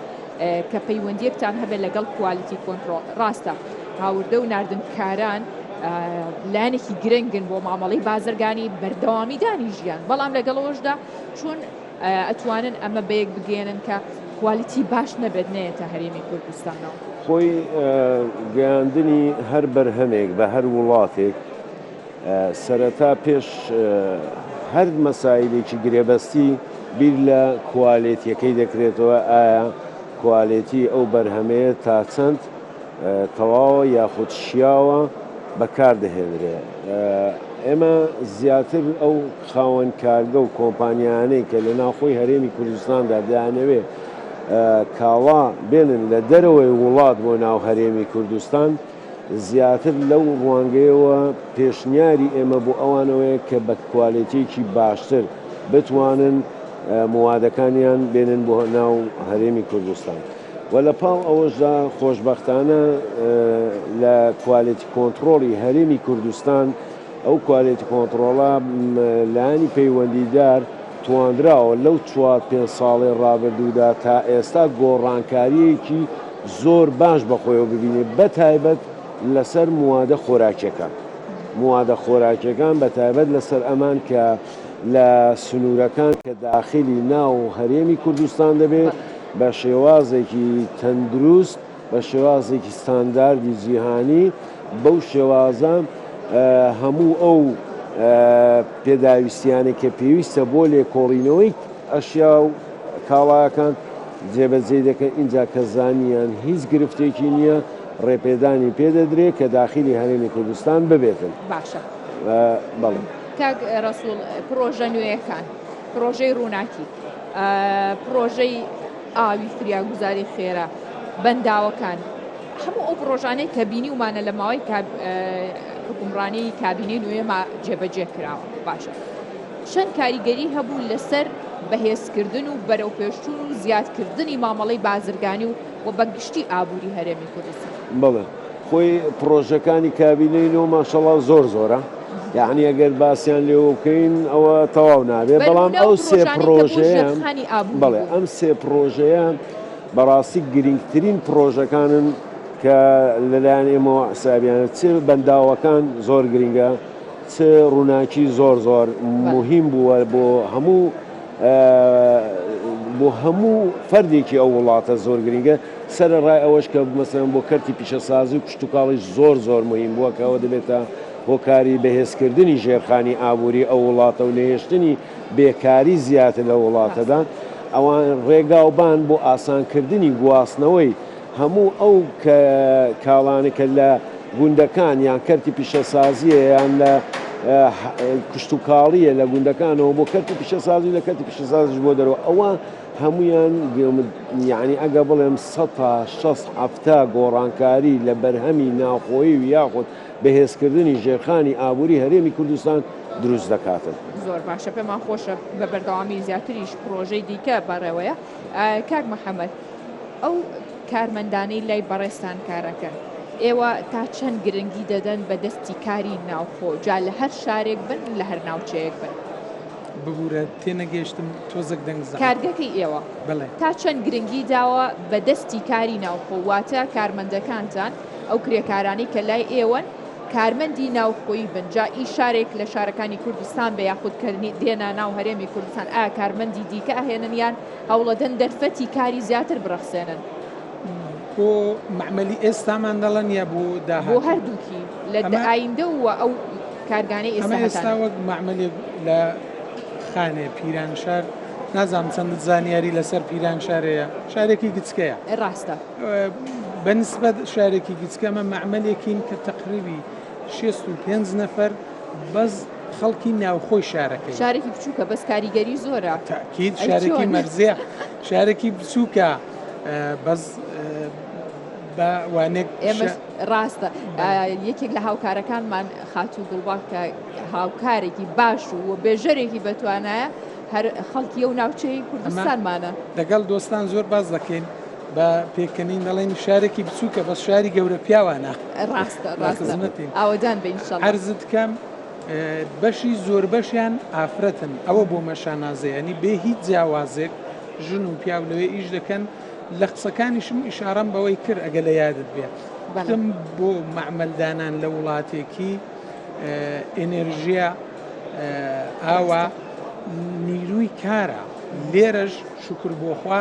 کە پەیوەندیەکتان هەبێت لەگەڵ کوالیتی کۆنترۆڵ ڕاستە هاوردە و ناردنکاران لایەنێکی گرنگن بۆ مامەڵی بازرگانی بەردەوامی دانی ژیان بەڵام لەگەڵەوەشدا چون ئەتوانن ئەمە بەیەک بگەێنن کە کوالیتی باش نەبێت نێتە هەرێمی کوردستانەوە خۆی گەیاندنی هەر بەرهەمێک بە هەر وڵاتێک سەرەتا پێش هەر مەسایلێکی گرێبەستی بیر لە کوالێتیەکەی دەکرێتەوە ئایا کوالێتی ئەو بەرهەمەیە تاچەند تەواوە یاخود شیاوە بەکار دەهێنرێ ئێمە زیاتر ئەو خاوەن کارگە و کۆمپانیانەی کە لە ناوخۆی هەرێمی کوردستاندا دەیانەوێ کاڵا بێنن لە دەرەوەی وڵات بۆ ناو هەرێمی کوردستان زیاتر لەو ڕوانگەیەوە پێشنیاری ئێمە بۆ ئەوان ئەوەیە کە بە کوالێتییەکی باشتر بتوانن موادەکانیان بێنن بۆ ناو هەرێمی کوردستان و لە پاڵ ئەوەشدا خۆشبەختانە لە کوالێتی کۆنتڕۆڵی هەرێمی کوردستان ئەو کوالێتی کۆنتڕۆڵە لایەنی پەیوەندیدار تواندراوە لەو چوار پێنج ساڵەی ڕابردوودا تا ئێستا گۆڕانکارییەکی زۆر باش بە خۆیەوە ببینێت بە تایبەت لەسەر موادە خۆراکیەکان موادە خۆراکیەکان بە تایبەت لەسەر ئەمان کە لە سنورەکان کە داخلی ناو هەرێمی کوردستان دەبێت بە شێوازێکی تەندروست بە شێوازێکی ستانداردی جیهانی بەو شێوازە هەموو ئەو پێداویستیانە کە پێویستە بۆ لێکۆڵینەوەی ئەشیا و کاڵاکان جێبەجێی دەکەن، ئینجا کە زانییان هیچ گرفتێکی نییە، ڕێپێدانی پێ دەدرێت کە داخیلی هەرێمی کوردستان ببێتن. باشە. بەڵێ. کاک ڕەسووڵ، پڕۆژە نوێیەکان، پڕۆژەی ڕووناکی، پڕۆژەی ئاوی فریاگوزاری خێرا، بەنداوەکان، هەموو ئەو پڕۆژانەی کە بینیومانە لە ماوەی حوکمڕانیی کابینەی نوێما جێبەجێ کراوە، باشە، چەند کاریگەری هەبوو لەسەر بەهێزکردن و بەرەوپێشچوون و زیادکردنی مامەڵەی بازرگانی و بە گشتی ئابووری هەرێمی کوردستان؟ بەڵێ خۆی پڕۆژەکانی کابینەی نۆ ماشەڵا زۆر زۆرە یەعنی ئەگەر باسیان لێوە بکەین ئەوە تەواو نابێ بەڵام ئەو سێ پڕۆژەیە بەڵێ ئەم سێ پڕۆژەیە بەڕاستی گرنگترین پڕۆژەکانن کە لەلایەن ئێمەوە حسابیانە چ بەنداوەکان زۆر گرنگە چ ڕوناکی زۆر زۆر موهیم بووە بۆ هەموو بۆ هەموو فەردێکی ئەو وڵاتە زۆر گرینگە سەرە ڕای ئەوەش کە مەسەن بۆ کەرتی پیشەسازی و کشتتوکاڵیش زۆر زۆر موهیم بووە کە ئەوە دەبێتە هۆکاری بەهێزکردنی ژێرخانی ئابووری ئەو وڵاتە و نەهێشتنی بێکاری زیاتر لە وڵاتەدا ئەوان ڕێگاوبان بۆ ئاسانکردنی گواستنەوەی هەموو ئەو کاڵانە کە لە گوندەکان یان کەرتی پیشەسازییە یان لە کشتوکاڵییە لە گوندەکانەوە بۆ کەرتی پیشەسازی و لە کەرتی پیشەسازیش بۆ دەرەوە ئەوە هەموویان یانی ئەگەر بڵێم سەتا شەست حەفتا گۆڕانکاری لە بەرهەمی ناوخۆیی و یاخود بەهێزکردنی ژێرخانی ئابووری هەرێمی کوردستان دروست دەکاتن. زۆر باشە پێمان خۆشە بە بەردەوامی زیاتریش پڕۆژەی دیکە بەڕێوەیە کاک محەمەد. ئەو کارمەندانەی لای بەڕێزتان کارەکەن، ئێوە تا چەند گرنگی دەدەن بە دەستی کاری ناوخۆ، جا لە هەر شارێک بن، لە هەر ناوچەیەک بن؟ ببورە تێنەگەیشتم تۆزەک دەنگ زەق. کارگەکەی ئێوە تا چەند گرنگی داوە بە دەستی کاری ناوخۆ، واتە کارمەندەکانتان، ئەو کرێکارانەی کە لای ئێوەن کارمەندی ناوخۆیی بن، جا ئی شارێک لە شارەکانی کوردستان بێ یاخود کە دێنە ناو هەرێمی کوردستان ئایا کارمەندی دیکە ئەهێنن یان هەوڵەدەن دەرفەتی کاری زیاتر بڕەخسێنن. بۆ مەعمەلی ئێستامان دەڵێن یا بۆ داهاتوو؟ بۆ هەردووکی، لە ئایندە و ئەو کارگانەی ئێستا هەتانە. ئەمە ئێستا وەک مەعمەلێک لە خانێ، پیرانشار، نازانم چەندت زانیاری لەسەر پیرانشار هەیە، شارێکی گچکەیە. ڕاستە. بە نیسبەت شارێکی گچکە ئەمە مەعمەلێکین کە تەقریبی شێست و پێنج نەفەر بەس، خەڵکی ناوخۆی شارەکەی شارێکی بچووکە بەس کاریگەری زۆرە تاکیید شارێکی مەرزێ شارێکی بچووکە بەس بە وانێک ئێمە ڕاستە یەکێک لە هاوکارەکانمان خاتوو گوڵباک کە هاوکارێکی باش و و بێژەرێکی بەتوانایە هەر خەڵکی و ناوچەی کوردستانمانە دەگەڵ دۆستان زۆر باز دەکەین با پێکەنین دەڵێن شارێکی بچووکە بەس شاری گەورە پیاوانە ڕاستە ڕاستمەتی ئاوەدان بین هەرزت کەم بەشی زۆر بەشیان ئافرەتن ئەوە بۆ مەشانازەیەنی بێ هیچ جیاوازێک ژن و پیاو لەوێ ئیش دەکەن لە قسەکانیشم ئیشارەم بەوەی کرد ئەگە لە یادت بێت بەڵم بۆ معمەلدانان لە وڵاتێکی ئێنێرژیە ئاوا نیروی کارە لێرەش شکر بۆخوا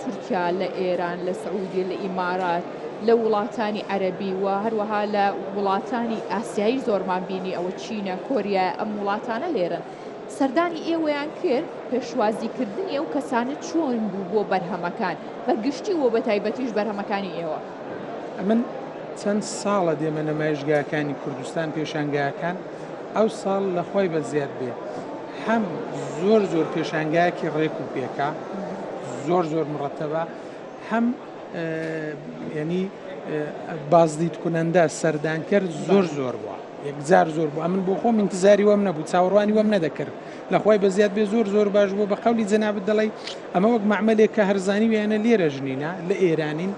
تورکیا، لە ئێران، لە سعودیە، لە ئیمارات، لە وڵاتانی عەرەبی و هەروەها لە وڵاتانی ئاسیایی زۆرمان بینی ئەوە چینە، کۆریایە ئەم وڵاتانە لێرەن. سەردانی ئێوەیان کرد، پێشوازیکردنی ئەو کەسانە چۆن بوو بۆ بەرهەمەکان بە گشتی و بە تایبەتیش بەرهەمەکانی ئێوە؟ ئەمن چەند ساڵە دێمە نەمایشگاکانی کوردستان، پێشانگاکان، ئەوساڵ لە خوای بەزیاد بێ، هەم زۆر زۆر پێشانگایەکی ڕێک و پێکە زۆر زۆر مڕەتەبە هەم ینی بازدیت کونەندە سەردانکەر زۆر زۆر بووە یەکجار زۆر بوو ئەمن بۆ خۆم انتزاری وەم نەبوو چاوەڕوانی وەم نەدەکرد لەخوای بە زیاد بێ زۆر زۆر باش بوو بە قولی جەنابەت دەڵی ئەمە وەک معملێک کە هەرزانی ویانە لێرە ژنینە لە ئێرانین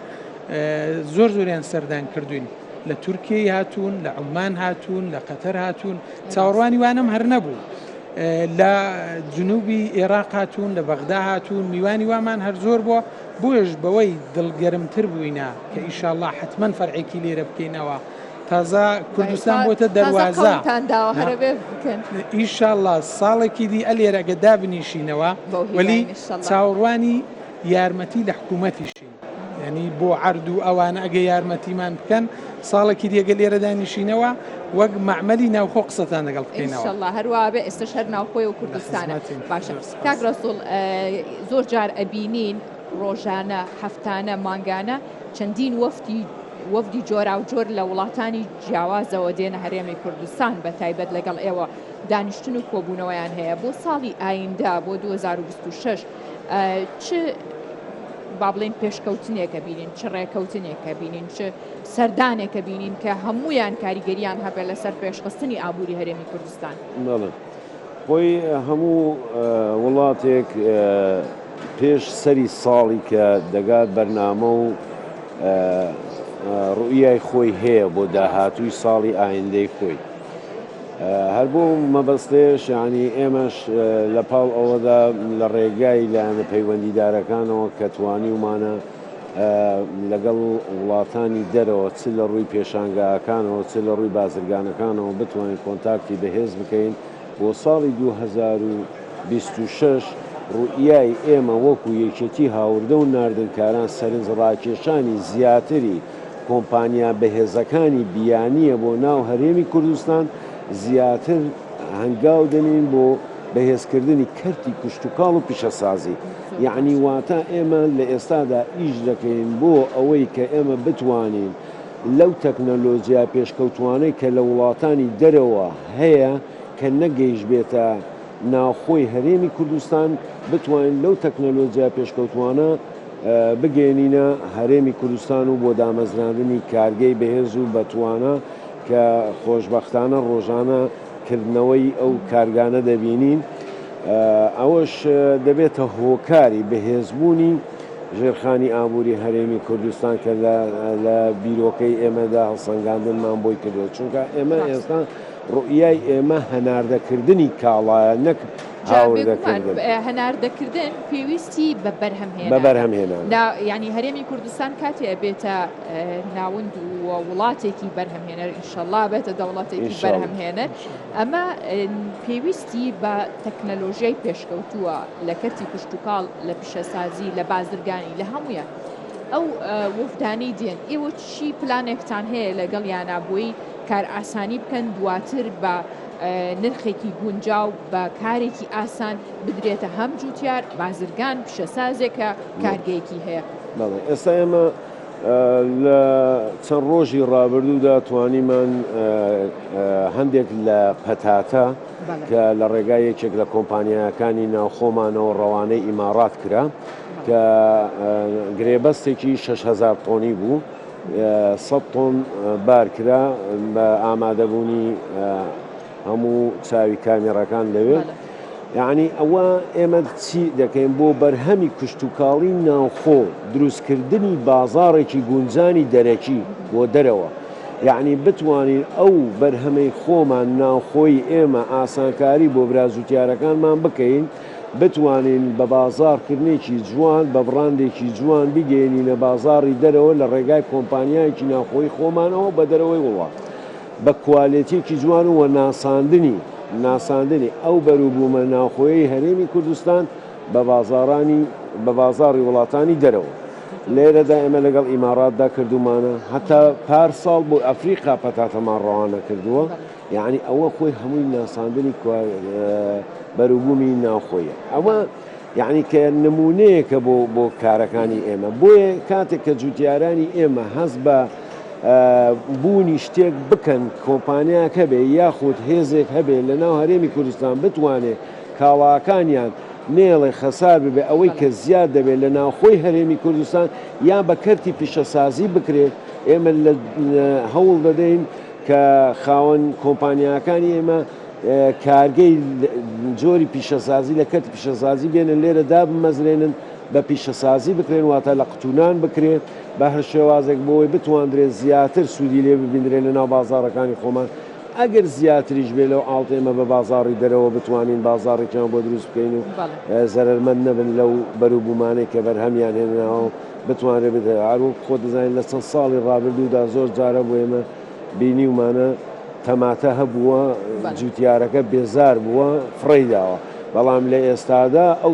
زۆر زۆریان سەردان کردوین لە تورکیای هاتوون لە عمان هاتوون لە قەتەر هاتوون چاوەڕوانی وانەم هەر نەبوو. لە جنوبی ئێراق هاتوون لە بەغدا هاتوون میوانی وامان هەر زۆر بووە بۆیش بەوەی دڵگەرمتر بووینە کە ئیشاءاللە حتمەن فەرعێکی لێرە بکەینەوە تازە کوردستان بۆتە دەروازە ئیشاءاللە ساڵێکی دی ئەلێرەگە دابنیشینەوە وەلی چاوەڕوانی یارمەتی لە حکوومەتیشین. یانی بۆ عەرد و ئەوانە ئەگە یارمەتیمان بکەن ساڵێکی دێگە لێرە دانیشینەوە وەک معمەلی ناوخۆ قسەتان لەگەڵ بکەینەوە هەروواێ ئێستا شەر ناوخۆی و کوردستانە باشە کاک ڕسوڵ زۆر جار ئەبینین ڕۆژانە هەفتانە مانگانە چەندین وەفتی وەفدی جۆرا و جۆر لە وڵاتانی جیاوازەوە دێنە هەرێمی کوردستان بە تایبەت لەگەڵ ئێوە دانیشتن و کۆبوونەوەیان هەیە بۆ ساڵی ئایندە بۆ 2026 چ با بڵێین پێشکەوتنێکە بینین چ ڕێکەوتنێکە بینین چ سەردانێکە بینین کە هەمویان کاریگەریان هەبێت لەسەر پێشخستنی ئابووری هەرێمی کوردستان خۆی هەموو وڵاتێک پێش سەری ساڵی کە دەگات بەرنامە و ڕوئای خۆی هەیە بۆ داهاتووی ساڵی ئایندەی خۆی هەر بۆ ئەو مەبەستەیش یانی ئێمەش لە پاڵ ئەوەدا لە ڕێگای لایەنە پەیوەندیدارەکانەوە کە توانیومانە لەگەڵ وڵاتانی دەرەوە چ لە ڕووی پێشانگاکانەوە چ لە ڕووی بازرگانەکانەوە بتوانین کۆنتاکتی بەهێز بکەین بۆ ساڵی 2026 ڕوئیای ئێمە وەکو یەکێتی هاوردە و ناردنکاران سەرنجڕاکێشانی زیاتری کۆمپانیا بەهێزەکانی بیانییە بۆ ناو هەرێمی کوردستان، زیاتر هەنگاو دەنێین بۆ بەهێزکردنی کەرتی کشتوکاڵ و پیشەسازی. یەعنی واتا ئێمە لە ئێستادا ئیش دەکەین بۆ ئەوەی کە ئێمە بتوانین لەو تەکنەلۆجیا پێشکەوتووانەی کە لە وڵاتانی دەرەوە هەیە کە نەگەیشبێتە ناوخۆی هەرێمی کوردستان، بتوانین لەو تەکنەلۆجیا پێشکەوتووانە. بگەیەنینە هەرێمی کوردستان و بۆ دامەزراندنی کارگەی بەهێز و بەتوانا کە خۆشبەختانە ڕۆژانە کردنەوەی ئەو کارگانە دەبینین ئەوەش دەبێتە هۆکاری بەهێزبوونی ژێرخانی ئابووری هەرێمی کوردستان کە لە بیرۆکەی ئێمەدا هەڵسەنگاندنمان بۆی کردووە چونکە ئێمە ئێستا ڕوئیای ئێمە هەناردەکردنی کاڵایە نەک هاوردەکردن. هەناردەکردن پێویستی بە بەرهەمهێنان. بە بەرهەمهێنان. لە یانی هەرێمی کوردستان کاتێ ئەبێتە ناوەند و وڵاتێکی بەرهەمهێنەر ئینشەڵا بێتە دەوڵەتێکی بەرهەمهێنەر ئەمە پێویستی بە تەکنەلۆژیای پێشکەوتووە لە کەرتی کشتتوکاڵ لە پیشەسازی لە بازرگانی لە هەمویان. ئەو وەفدانەی دێن ئێوە چی پلانێکتان هەیە لەگەڵ یانابووی کار ئاسانی بکەن دواتر بە نرخێکی گونجاو بە کارێکی ئاسان بدرێتە هەم جوتیار، بازرگان، پیشەسازێک کە کارگەیەکی هەیە. بەڵێ ئێستا ئێمە لە چەند ڕۆژی ڕابردوودا توانیمان هەندێک لە پەتاتە کە لە ڕێگای یەکێک لە کۆمپانیاکانی ناوخۆمانەوە ڕەوانەی ئیماڕات کرا کە گرێبەستێکی شەش هەزار تۆنی بوو، سەد تۆن بار کرا بە ئامادەبوونی هەموو چاوی کامێڕەکان لەوێ. یەعنی ئەوە ئێمە چی دەکەین بۆ بەرهەمی کشتوکاڵی ناوخۆ دروستکردنی بازاڕێکی گونجانی دەرەکی بۆ دەرەوە. یەعنی بتوانین ئەو بەرهەمەی خۆمان ناوخۆی ئێمە ئاسانکاری بۆ برا جوتیارەکانمان بکەین. بتوانین بە بازاڕکردنێکی جوان، بە بڕاندێکی جوان بیگەیەنینە بازاڕی دەرەوە لە ڕێگای کۆمپانیایەکی ناوخۆیی خۆمانەوە بە دەرەوەی وڵات بە کوالێتیەکی جوان و وە ناساندنی ناساندنی ئەو بەروبومە ناوخۆیەی هەرێمی کوردستان بە بازاڕانی بە بازاڕی وڵاتانی دەرەوە لێرەدا ئێمە لەگەڵ ئیماڕاتدا کردومانە هەتا پار ساڵ بۆ ئەفریقا پەتاتەمان ڕەوانە کردوە. یەعنی ئەوە خۆی هەمووی ناساندنی بەروبوومی ناوخۆیە ئەوە یەعنی کە نمونەیەکە بۆ بۆ کارەکانی ئێمە بۆیە کاتێک کە جوتیارانی ئێمە هەز بە بوونی شتێک بکەن کۆمپانیاک هەبێ یاخود هێزێک هەبێ لە ناو هەرێمی کوردستان بتوانێت کاڵاکانیان نێڵێ خەسار ببێ ئەوەی کە زیاد دەبێت لە ناوخۆی هەرێمی کوردستان یا بە کەرتی پیشەسازی بکرێت ئێمە هەوڵ دەدەین کە خاوەن کۆمپانیاکانی ئێمە کارگەی جۆری پیشەسازی لە کەرتی پیشەسازی بێنن لێرە دابمەزرێنن بە پیشەسازی بکرێن واتە لە قوتونان بکرێ بە هەر شێوازێک بۆی بتواندرێت زیاتر سوودی لێ ببیندرێت لە ناو بازاڕەکانی خۆمان ئەگەر زیاتریش بێ لەو ئاڵت ئێمە بە بازاڕی دەرەوە بتوانین بازاڕێکیان بۆ دروست بکەین و زەرمەند نەبن لەو بەروبوومانەی کە بەرهەمیان هێناوە بتوانرێت بدرێت. هەر وەکو خۆت دەزانیت لە چەند ساڵی ڕابردوودا زۆر جارە بۆ ئێمە بینیومانە تەماتە هەبووە جووتیارەکە بێزار بووە فڕێی داوە، بەڵام لە ئێستادا ئەو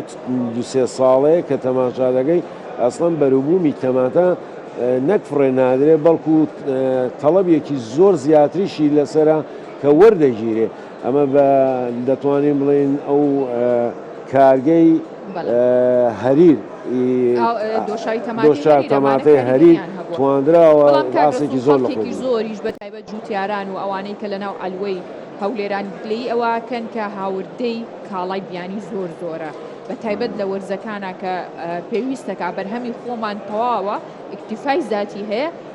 دوو سێ ساڵەیە کە تەماشا دەکەی ئەسڵەن بەروبوومی تەماتە نەک فڕێ نادرێت بەڵکو تەڵەبێکی زۆر زیاتریشی لەسەرە کە وەردەگیرێت. ئەمە بە دەتوانین بڵێین ئەو کارگەی هەریر دۆشاو تەماتەی هەریر تواندراوە باسێکی زۆر لە خۆی زۆریش بە تایبەت جوتیاران و ئەوانەی کە لەناو ئەلوەی هەولێران گلەی ئەوەکەن کە هاوردەی کاڵای بیانی زۆر زۆرە بە تایبەت لە وەرزەکانە کە پێویستەکە بەرهەمی خۆمان تەواوە ئیکتیفای زیاتی هەیە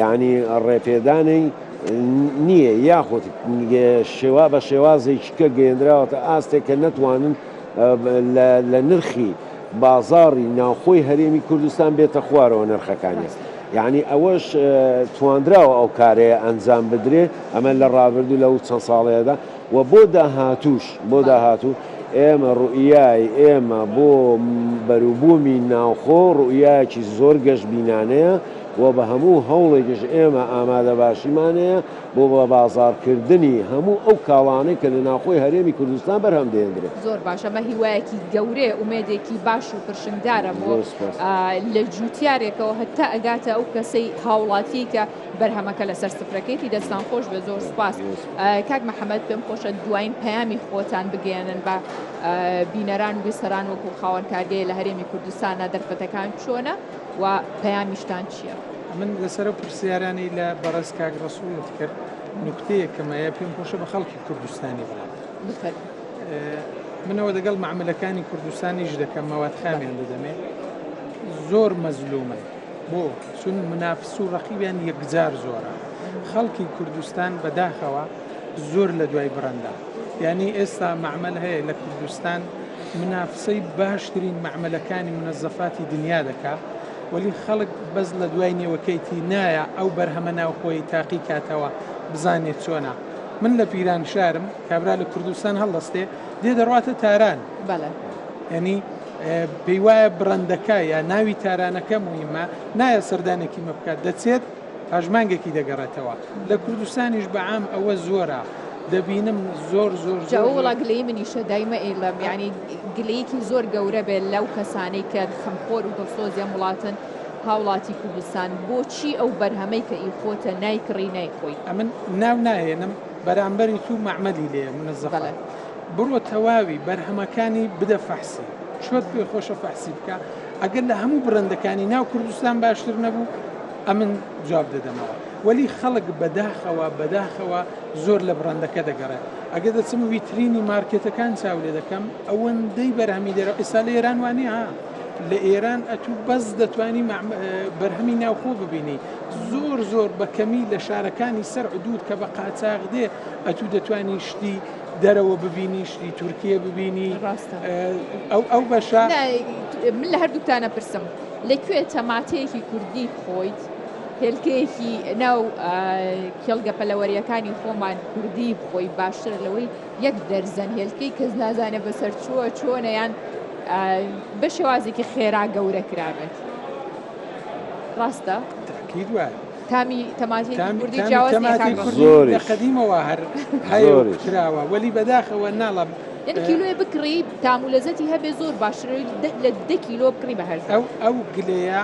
یانی ڕێپێدانەی نییە یاخود شێوا بە شێوازێکیکە گەیەندراوەتە ئاستێک کە نەتوانن لە نرخی بازاڕی ناوخۆی هەرێمی کوردستان بێتە خوارەوە نرخەکانیان یعنی ئەوەش تواندراوە ئەو کارەیە ئەنجام بدرێ ئەمە لە ڕابردوو لەو چەند ساڵەیەدا و بۆ داهاتوش بۆ داهاتوو ئێمە ڕوئای ئێمە بۆ بەروبوومی ناوخۆ ڕوئایەکی زۆر گەشت بینانەیە و بە هەموو هەوڵێکیش ئێمە ئامادەباشیمان هەیە بۆ بە بازاڕکردنی هەموو ئەو کاڵانەی کە لە ناوخۆی هەرێمی کوردستان بەرهەم دەهێندرێت. زۆر باش، ئەمە هیوایەکی گەورەیە، ئومێدێکی باش و پرشنگدارە بۆ زۆر سوپاس. لە جووتیارێکەوە هەتا ئەگاتە ئەو کەسەی هاوڵاتیەی کە بەرهەمەکە لەسەر سفرەکەیەتی، دەستتان خۆش بێت، زۆر سوپاس. زۆر سوپاس. کاک محەمەد پێم خۆشە دواین پەیامی خۆتان بگەیەنن بە بینەران و بیسەران وەکوو خاوەن کارگەیە لە هەرێمی کوردستانا دەرفەتەکان چۆنە؟ وە پەیامیشتان چیە؟ من لەسەر ئەو پرسیارانەی لە بەڕێز کاک ڕەسوڵت کرد نوکتەیەکم هەیە پێم خۆشە بە خەڵکی کوردستانی بڵێم. بفەرموو. من ئەوە دەگەڵ مەعەمەلەکانی کوردستان ئیش دەکەم مەوادخامیان دەدەمێ زۆر مەزلومن بۆ چون منافس و ڕەقیبیان یەکجار زۆرە خەڵکی کوردستان بەداخەوە زۆر لە دوای بڕەندا یانی ئێستا مەعمل هەیە لە کوردستان منافسەی باشترین مەعمەلەکانی منەزەفاتی دنیا دەکا وەلی خەڵک بەس لە دوای نێوەکەیتی نایە ئەو بەرهەمە ناوخۆیەی تاقی کاتەوە بزانێ چۆنە من لە پیرانشارم کابرا لە کوردستان هەڵدەستێ دێ دەڕواتە تاران یانی پێی وایە بڕەندەکە یا ناوی تارانەکە مویمە نایە سەردانێکی مە بکات دەچێت پاش مانگێکی دەگەڕێتەوە لە کوردستانیش بە عام ئەوە زۆرە دەبینم زۆر زۆر جاو وڵا گلەی منیشە دایمە ئیلم یعنی گلەیەکی زۆر گەورە بێت لەو کەسانەی کە خەمخۆر و دڵسۆزیان وڵاتن هاوڵاتی کوردستان بۆچی ئەو بەرهەمەی کە ئی خۆتە نایکڕی نایخۆی ئەمن ناو ناهێنم بەرامبەری تو معمەلی لێ منەزەڵە بڕۆ تەواوی بەرهەمەکانی بدە فەحسی چۆت پێ خۆشە فەحسی بکە ئەگەر لە هەموو بڕەندەکانی ناو کوردستان باشتر نەبوو ئەمن جواب دەدەمەوە وەلی خەڵک بەداخەوە بەداخەوە زۆر لە بڕەندەکە دەگەڕێت ئەگەر دەچم ویترینی مارکێتەکان چاو لێ دەکەم ئەوەندەی بەرهەمی دەرەوە ئێستا لە ئێران وانە ها لە ئێران ئەتوو بەس دەتوانی بەرهەمی ناوخۆ ببینی زۆر زۆر بەکەمی لە شارەکانی سەر عدود کە بە قاچاغ دێ ئەتوو دەتوانی شتی دەرەوە ببینی شتی تورکیە ببینی ئەو ئەو بەشە من لە هەردووکتانە پرسم لەکوێ تەماتەیەکی کوردی خۆیت هێلکەیەکی ناو کێڵگە پەلەوەریەکانی خۆمان کوردی بخۆی باشتر لەوەی یەک دەرزەن هێلکەی کەس نازانێ بەسەر چووە چۆنەیان بە شێوازێکی خێرا گەورە کرابێت ڕاستە؟ تاکیید وایە تامی تەماتێکی کوردی جیاواز نییە کاک بەڕێز. زۆریش. لە قەدیمەوە هەر هەیە و کراوە، وەلی بەداخەوە ناڵێم. یانی کیلۆیێ بکڕی تام و لەزەتی هەبێ زۆر باشترە لە دە کیلۆ بکڕی بە هەرزان. ئەو ئەو گلەیە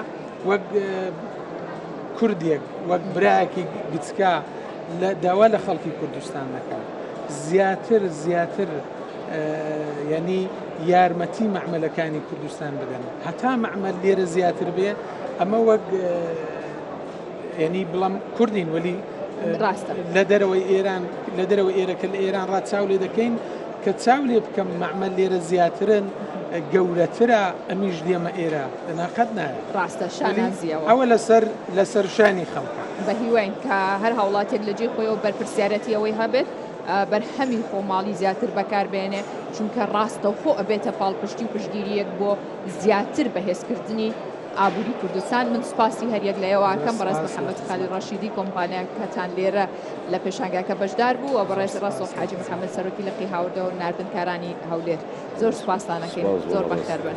وەک کوردێک وەک برایەکی گچکە لە داوا لە خەڵکی کوردستان دەکەم زیاتر زیاتر یعنی یارمەتی مەعملەکانی کوردستان بدەن هەتا مەعمل لێرە زیاتر بێ ئەمە وەک یەنی بڵم کوردین وەلی ڕاستە لە دەرەوەی ئێران لە دەرەوەی ئێرەکە لە ئێران ڕا چاو لێ دەکەین کە چاو لێ بکەم مەعمە لێرە زیاترن گەورەترە ئەمیش دێمە ئێرە لەناقەت نایە ڕاستە شانازیەوە ئەوە لەسەر لەسەر شانی خەڵکە بە هیواین کە هەر هاوڵاتێک لە جێ خۆیەوە بەرپرسیارەتی ئەوەی هەبێت بەرهەمی خۆماڵی زیاتر بەکاربێنێ چونکە ڕاستەوخۆ ئەبێتە پاڵپشتی و پشگیریەک بۆ زیاتر بەهێزکردنی ئابوری کوردستان من سوپاسی هەریەک لە ئێوەکەم بەڕێز محمد خالی ڕەشیدی کۆمپانیا کەتان لێرە لە پێشانگاکە بەشدار بوو و بەڕێز ڕسۆ حاجی محمد سەرۆکی لقی هاوردە و ناردنکارانی هەولێر زۆر سوپاستانەکەین زۆر بەخێربن.